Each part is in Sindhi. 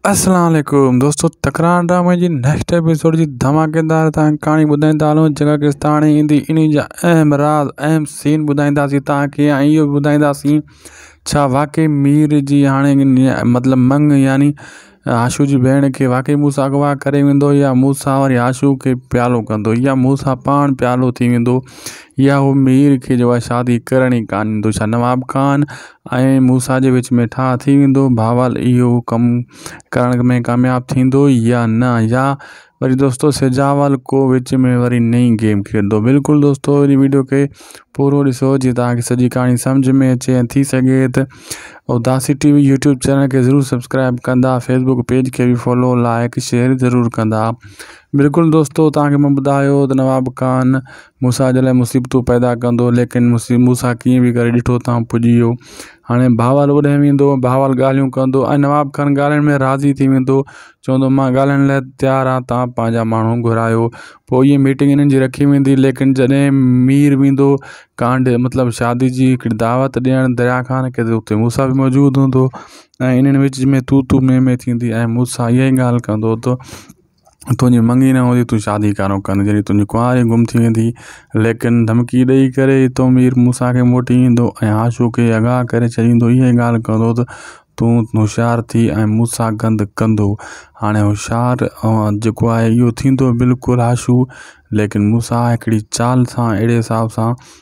اسلام عليڪم دوستو تڪرار ڊرامي جي نيڪسٽ ايپيسوڊ جي ڌماڪيدار تان ڪھاڻي ٻڌائيندا ھلون جيڪا ڪيس تان ھاڻي ايندي انھي جا اھم راز اھم سين ٻڌائينداسين تان کي ۽ اھو به ٻڌائينداسين ڇا واقعي مير جي ھاڻي مطلب منڱ يعني عاشو جي ڀيڻ کي واقعي موسيٰ اغوا ڪري ويندو يا موسيٰ وري عاشو کي پيارو ڪندو يا موسيٰ پاڻ پيارو ٿي ويندو يا ھو مير کي جو آھي شادي ڪرڻ ئي ڪانه ڏيندو ڇا نواب خان ۽ موسيٰ جي وچ ۾ ٺاهه ٿي ويندو. بهرحال اهو ڪم ڪرڻ ۾ ڪامياب ٿيندو يا نه يا وري دوستو سجاول ڪو وچ ۾ وري نئين گيم کيڏندو. بلڪل دوستو هن وڊيو کي پورو ڏسو جيئن توهان کي سڄي ڪهاڻي سمجهه ۾ اچي ۽ ٿي سگهي ته اداسي ٽي وي يوٽيوب چينل کي ضرور سبسڪرائب ڪندا فيسبوڪ پيج کي به فالو لائڪ شيئر ضرور ڪندا. بلڪل دوستو توهان کي مان ٻڌايو ته نواب خان موسيٰ جي لاء مصيبتون پيدا ڪندو ليڪن مصي موسيٰ ڪيئن بي ڪري ڏٺو تان پڄي ويو هاڻي بهاول اوڏانهن ويندو بهاول ڳالهيون ڪندو ۽ نواب کان ڳالهائڻ ۾ راضي ٿي ويندو چوندو ماهه ڳالهائڻ لاء تيار آهي تان پنهنجا ماڻهو گهرايو پوء ائين ميٽنگ انهن جي رکي ويندي ليڪن جڏهن مير ويندو ڪانڊ مطلب شادي جي هڪڙي دعوت ڏيڻ دريا خان کي ته اتي موسيٰ به موجود هوندو ۽ انهن وچ ۾ تو تو مين مين ٿيندي ۽ موسيٰ ائين ڳالهه ڪندو هوندو تنهنجي منڱي نه هوندي تون شادي ڪانو ڪندين جڏهن تنهنجي ڪنواري گم ٿي ويندي ليڪن ڌمڪي ڏئي ڪري تو مير موسيٰ کي موٽي ايندو ۽ عاشو کي اغوا ڪري ڇڏيندو اها ئي ڳالهه ڪندو ته تون هوشيار ٿي ۽ موسيٰ گند ڪندو هاڻي هوشيار جيڪو آهي اهو ٿيندو بلڪل عاشو ليڪن موسيٰ هڪڙي چال سان اهڙي حساب سان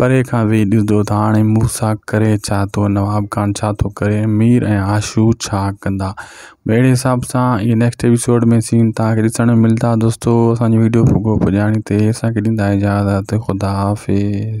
پري کان ويهي ڏسندو ته هاڻي مون سان ڪري ڇا ٿو، نواب خان ڇا ٿو ڪري، مير ۽ آشو ڇا ڪندا. به اهڙي حساب سان اهي نيڪسٽ ايپيسوڊ ۾ سين توهان کي ڏسڻ ۾ ملدا. دوستو اسان جو ويڊيو پڳو پڄاڻي تي اسان کي ڏيندا اجازت خدا حافظ.